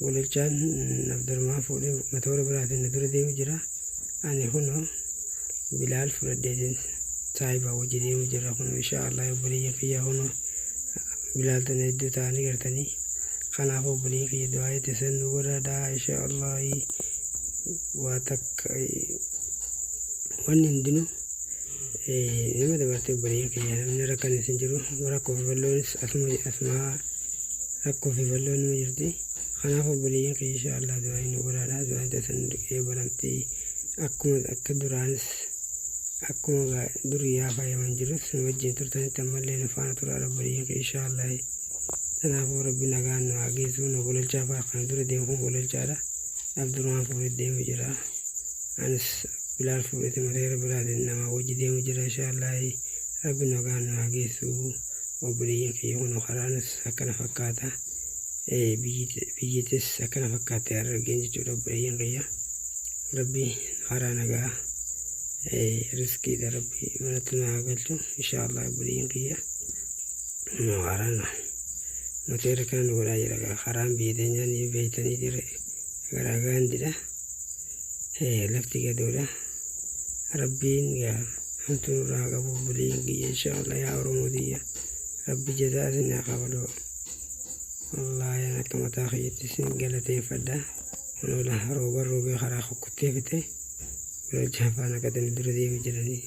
Golichaan Abdurmaan fuudhee matoora biraatiin na dura deemu jira. Ani kunoo Bilaal fudhadheetiin saahibaa wajji deemu jira. Kunoo inshaa Allah obboleeyyan kiyyaa kunoo Bilaal tana hedduu ta'anii gartanii. Kanaaf obboleeyyan kiyya du'aa itti san nu godhaadhaa inshaa Allah waa takka wanni hundinuu. Nama dabartee obboleeyyan keenya namni rakkanis hin jiru rakkoo fi balloonis asuma asuma rakkoo fi balloon numa jirti kanaaf obboleeyyan keenya insha Allah du'aayi nu godhaadha du'aayi tasan eebalamti akkuma akka duraanis akkuma gaa duriyaa fayyaman jirus nu wajjin turtanitti ammallee nu faana turaadha obboleeyyan keenya insha Allah kanaafuu rabbi nagaan nu haa geessu nu gololchaa fa'aa kan dura deemu kun gololchaadha Abdurrahmaan fuudhee deemu jira anis Bilaal fuudheti mateera biraatin namaa wajji deemu jira inshaallahi rabbi nagaan nu haa geessu obboleeyyan kiyya kuno karaanis akkana fakkaata biyyitis akkana fakkaatte harargeen jechuudha obboleeyyan kiyya rabbi karaa nagaa riskiidha rabbi manatti nu haa galchu inshaallahi obboleeyyan kiyya kunoo karaan mateera kana nu godhaa jira karaan biyya teenyaa ni beeytanii jira garaa gaandidha lafti gadoodha rabbiin yaa hamtuu irraa haa qabu buliin kiyya inshaallah yaa oromoo tiyya rabbi jazaa isin haa kafalu wallahi an akka mataa kiyyatti isin galateeffadha kunoola rooban roobee karaa kukkuttee fite kunoo jaafaan akkatani dura deemu jiranii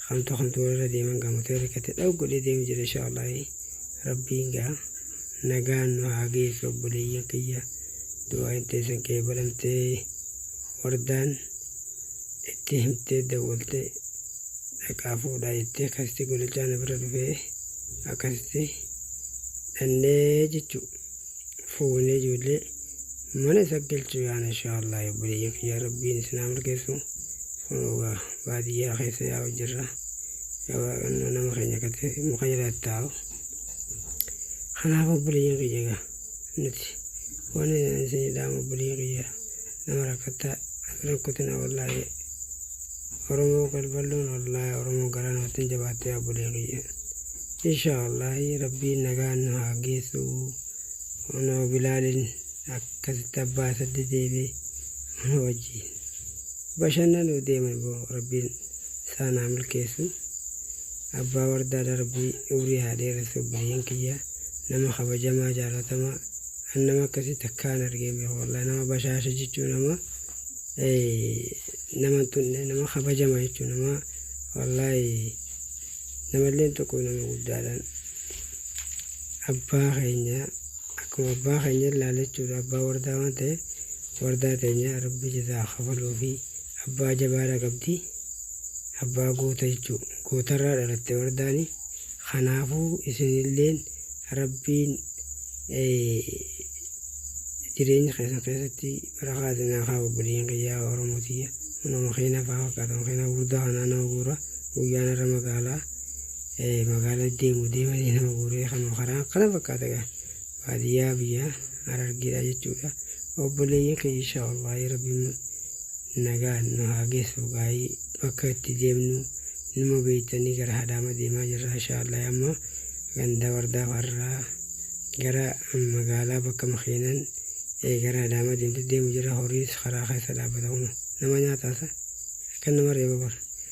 kamtu kamtu walirra deeman gaamotee rikkate dha'u godhee deemu jira inshaallah rabbiin gaa nagaan nu haa geessu obboleeyyan kiyya du'aa itteessan kee balaltee wardaan itti himtee dawwaltee dhaqaa fuudhaa jettee akkasitti golichaa na bira dhufee akkasitti dhannee jechuu fuunee ijoollee mana isa galchuu yaana inshaallah obboleeyyan kiyyaa rabbiin isinaa milkeessu funuugaa baadiyyaa keessa yaa'u jirra gabaaqannoo nama keenya kate muka jala taa'u kanaaf obboleeyyan kiyya egaa nuti wani sini daamu bulii kiyya nama rakkatta rakkutina wallaahi oromoo qalballoon wallaahi oromoo garaa namatti hin jabaatte yaa bulii kiyya insha wallaahi rabbiin nagaan nu haa geessu onoo bilaalin akkasitti abbaa saddi deebe mana wajjiin bashannanuu deeman boo rabbiin isaan haa milkeessu abbaa wardaa darbii umrii haa dheeressu buliin kiyya nama kabajamaa jaalatamaa an nama akkasii takkaa hin argeen beeku wallahi nama bashaasha jechuu nama nama hin tunne nama kabajama jechuu nama wallahi namallee hin tuquu nama guddaadhaan abbaa keenya akkuma abbaa keenya ilaala jechuudha abbaa wardaa waan ta'e wardaa teenya rabbi jazaa kafaluufi abbaa jabaadha qabdi Abbaa goota jechuu. Gootarraa dhalatte wardaani. Kanaafuu isinilleen rabbiin jireenya keessan keessatti barakaa isinaa haa obboleeyyan kiyyaa oromoo tiyya nama keenya faa fakkaatan keenya guddaa kanaa nama guura guyyaan irra magaalaa magaalaa deemu deemanii nama guuree kanuma karaa kana fakkaata gaa Baadiyyaa biyya Harargeedha jechuudha. Obboleeyyan keenya inshaa Allaah Rabbiin nagaan nu haa geessu gaayii bakka itti deemnu numa beektanii gara Hadaama deemaa jirra inshaa Allaah amma ganda wardaa farraa gara magaalaa bakka makiinan eh, gara Hadaama deemtu deemu jirra horiis karaa keessa dhaabbata kun nama nyaataasa akka nama reeba bara.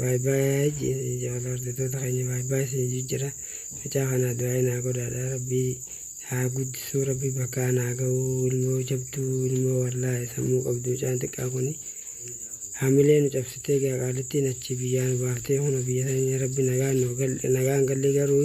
By by jabadha hordoftoota keenya by by isin jijjira mucaa kanaa du'aayi naa godhaadha rabbii haa guddisuu rabbii bakka an haa ga'uu ilmoo jabduu ilmoo wallaahi sammuu qabdu mucaan xiqqaa kuni hamilee nu cabsitee gaa qaalittiin achi biyyaa nu baaftee kuna biyya sanya rabbi nagaan nu gal nagaan galli garuu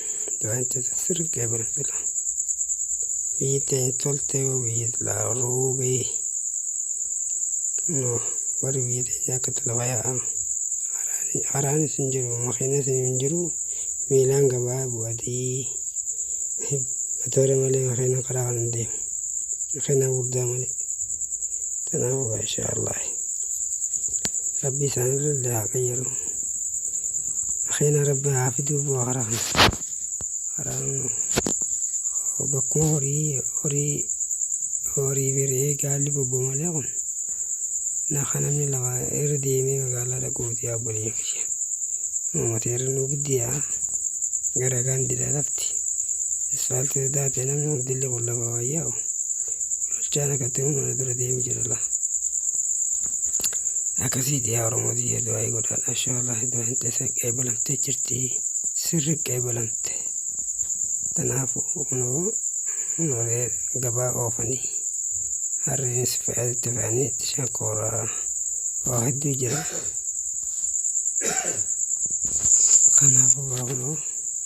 Daancha sirgee bilbila. Fiixeen toltee wiixlaa ruubee. Kunoo warri biyya teenyaa akkatti lafa yaa'an. Haraani- Haraanis hin jiru, makiinas hin jiru, miilaan gabaa bu'atii. Matoora malee makiina karaa kana hin deemu. Makiina guddaa malee. Kanaafuu inshaa Allah. Rabbi isaanirra illee haa qayyaru. Kheena rabbi haa fiduu boo hara kana. Hara bakkuma horii horii horii biree gaalli bobbo malee kun. Na kanamni lama irra deemee magaalaa dhaquuti yaa bulii kiyya. Uummata irra nu giddiyaa gara gaandidha lafti. Isfaaltii daatee namni hundillee kun lafa wayyaa'u. Bulchaan akkatti hunda na dura deemi jira laa. Akkasii dhiyaa Oromoo biyya du'aa godhaan ashaalaa hedduu hin teessa qeebalamtee jirti sirri qeebalamte. Kanaafuu kunoo noolee gabaa oofanii harreenis fe'aatti fe'anii itti shankooraa waa hedduu jira. Kanaafuu kunoo.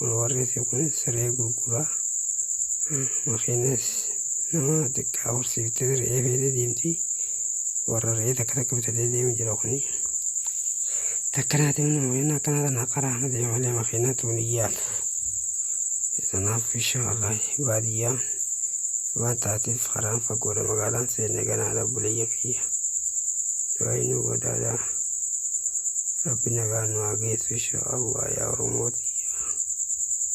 Warri fi kun siree gurguraa. Makiinas nama xiqqaa horsiiftee re'ee feetee deemti. Warra re'ee takka takka bitatee deemu jira kuni. Takkanaati mana makiinaa akkanaa tana karaa kana deema malee makiinaa tuun hin yaalu. Kanaaf insha Allah baadiyyaa waan taateef karaan fagoodha magaalaan seenne ganaadha buleeyya kiyya. Du'aayi nu godhaadha. Rabbi nagaa nu haa geessu insha Allah yaa Oromoo tiyya.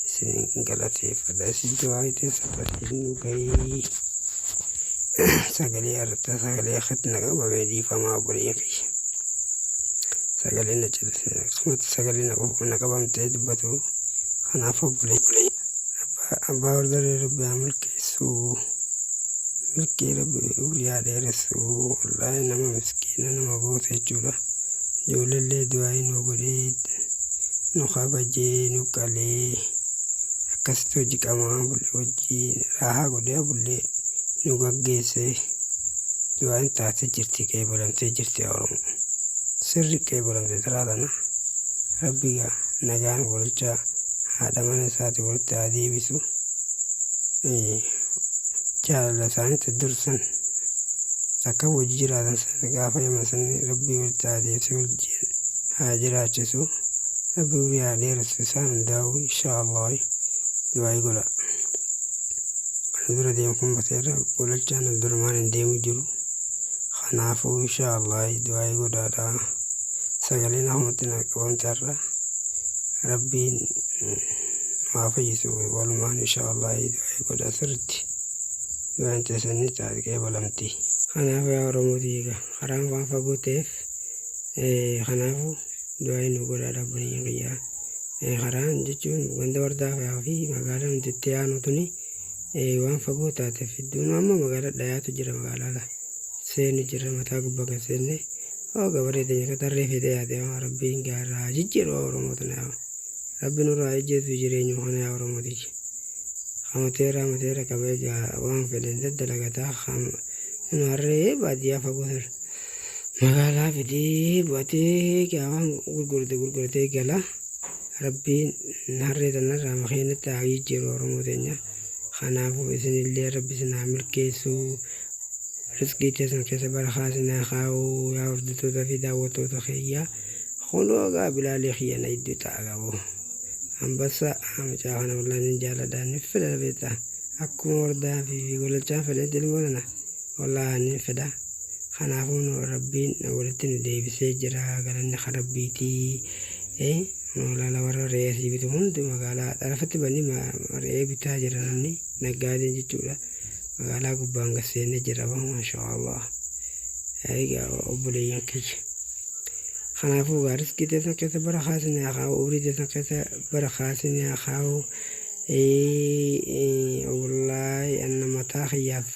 Isin galateeffadha. Isin jawaayitee sadasiin nu gahii. Sagalee arta sagalee akkatti na qabame dhiifamaa obboleeyyan kiyya. Sagalee na callisne akkasumatti sagalee na qofa na qabamtee dubbatu. Kanaaf obboleeyyan. Abbaa wardaree Rabbi haa milkeessu. Isuu. Milkii rabbi umrii haa dheeressu wallaahi nama miskiina nama boose jechuudha ijoolleellee du'aa'ii nu godhee nu kabajee nu qalee akkasitti hojii qamaa bullee hojii raahaa godhee bullee nu gaggeessee du'aa'iin taatee jirti qeebalamtee jirti yaa oromoo sirri qeebalamte taraa tana rabbi gaa nagaan walchaa haadha mana isaati walitti haa deebisu. jaalala isaanitti dursan takka wajji jiraatan sana gaafa yama sanni rabbii walitti haa deebisee wajjin haa jiraachisu rabbii umrii haa dheeressu isaan hundaa'u inshaa allah du'aayi godha kana dura deemu kun bateerra golachaan abdurrahmaan hin deemu jiru kanaafuu inshaa allah du'aayi godhaadha sagaleen ahumatti naa qabamte har'a rabbiin haa fayyisu walumaan insha Allah du'aa godha sirritti du'aan teessanni caadqee balamti kanaaf yaa Oromoo diiga karaan waan fagoo ta'eef kanaafu du'aa nu godhaa dhabbanii kiyyaa karaan jechuun ganda wardaa fi magaalaan itti aanu tuni waan fagoo taateef iddoon amma magaalaa dhayaatu jira magaalaa seenu jira mataa gubbaa kan seenne hoo gabaree teenya katarree fedee yaadee rabbiin gaarraa jijjiiruu Oromoo tanaaf. Rabbi nurraa haa ijjeessu jireenyuma kana yaa oromoo tiyya ka mateerraa mateerra qaba egaa waan fedhen daddalagata ka nu harree baadiyyaa fagoo san magaalaa fidee bu'atee egaa waan gurgurate gurguratee gala rabbiin harree tanarraa makeenatti haa jijjiiru oromoo teenya kanaafuu isinillee rabbi isin haa milkeessu risqii teessan keessa barakaa isin haa kaa'u yaa hordoftoota fi daawwattoota keeyyaa Kunoo egaa bilaalee kiyya na idduu ta'a gabo. Ambassa mucaa kana wallaan hin jaaladha ni fedha beekta. Akkuma wardaa fi gololchaan fedhetti ilmoo tana wallaa ni fedha. Kanaafuu nu rabbiin walitti nu deebisee jira galanni kan rabbiitii. Eh, magaalaa warra re'ee asii bitu hundi magaalaa xarafatti banni re'ee bitaa jira namni naggaadeen jechuudha. Magaalaa gubbaan gasseenna jira maashaa Allah. Egaa obboleeyyan kiyya. Kanaafuu gaa riskii teessan keessa barakaa isin haa kaa'u umrii teessan keessa barakaa isin haa kaa'u wallahi anna mataa kiyyaaf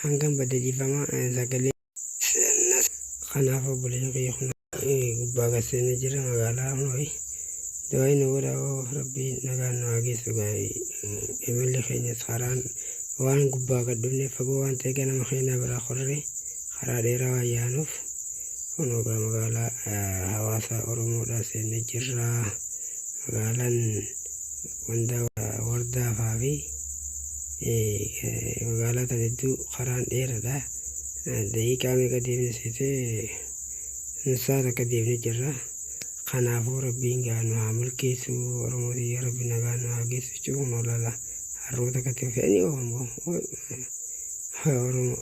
hangan badde dhiifama sagalee seennas kanaaf obboleen kiyya kun gubbaa gad seenne jira magaalaa amooyi du'aayi nu godha oo rabbii nagaan nu haa geessu gaayi imalli keenyas karaan waan gubbaa gad dhufne fagoo waan ta'e ganama keenyaa biraa korree karaa dheeraa waan yaanuuf Kunoo egaa magaalaa hawaasaa Oromoodhaa seennee jirra. Magaalaan wanda wardaafaa fi magaalaa tan hedduu karaan dheeradha. Daqiiqaa meeqa deemne seete saa takka deemne jirra. Kanaafuu rabbiin gaa nu haa milkeessu Oromoo tiyya rabbi nagaa nu haa geessu jechuun kunoo laala harroota akkatti fe'anii oofamu. Oromoo.